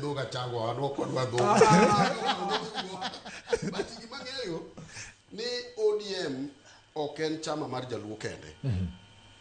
dhoga chango wadwa kodwa dhoga but gima ng'eyo ni odm ok en chama mar jaluo kende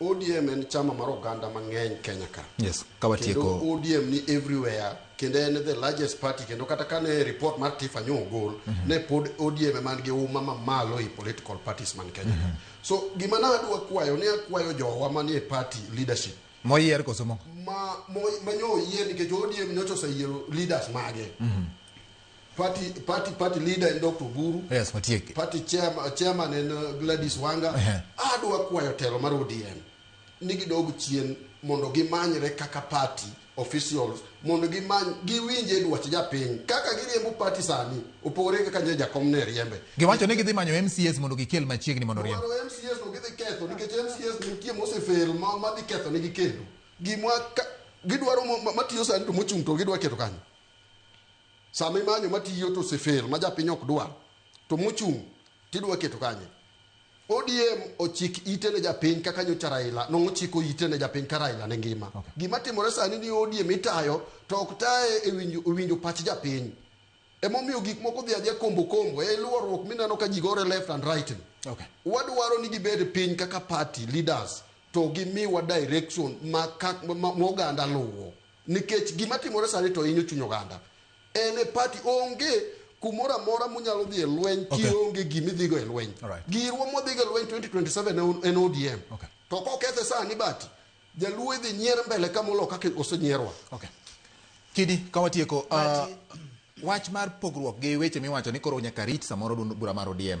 odm en chama mar oganda mang'eny kenya ka yes kendo kawatieko odm ni everywhere kendo en the largest party kendo kata kane report mar tifa nyo ogol ne pod odm ema nigi uma mamalo e political parties man kenya ka so gima nadwa kwayo ne akwayo jowa manie party leadership Moyier koso mo? Ma mo ma nyo oyier nikech ODM nyocha oseyiero leaders mage. Mhm. Party party party leader en Dr. Guru. Yes, matiek. Party chairman chairman en uh, Gladys Wanga. Uh -huh. Adwa kwayo telo mar ODM ni gidog chien mondo gimanyre kaka party officials mondo gimany giwinje dwach japiny kaka giriembo pati sani opogore gi kaka nyo jakom ne riembe Giwacho ni gidhi manyo MCS mondo gikel machiegni mondo riemb. Dwaro MCS no gidhi ketho nikech MCS ni nitie mosefel ma ma dhi ketho negi kendo gimwa ka- gidwaro mo- ma- matiyo sani to mochung' to gidwa keto kanyo sama imanyo matiyo to osefel ma japiny ok dwar to mochung' tidwa keto kanye ODM ochik ite ne japiny kaka nyocha Raila nongo chiko ite ne japiny ka Raila ne ngima. Okay. Gima timore sani ni ODM itayo to ok taye e winjo, e winjo pach japiny. Emomiyo gik moko dhi adhiya kombo kombo e luorruok mineno ka ji gore left and right. ni. Okay. Wadwaro ni gibed piny kaka party leaders to gimiwa direction ma, ka- ma, ma oganda luwo. Nikech gima timore sani to hinyo chuny oganda. En e party onge kumoro amora munyalo dhi e lweny Okay. kionge gima idhigo e lweny. Alright. Girwa modhigo e lweny 2027 en O- en ODM. Okay. To kokethe sani bati, jaluo idhi nyier mbele ka molo kaka osenyierwa. Okay. Kidi, ka watieko, uh, wach mar pogruok gi weche miwacho ni koro nyaka rit samoro dun- bura mar ODM.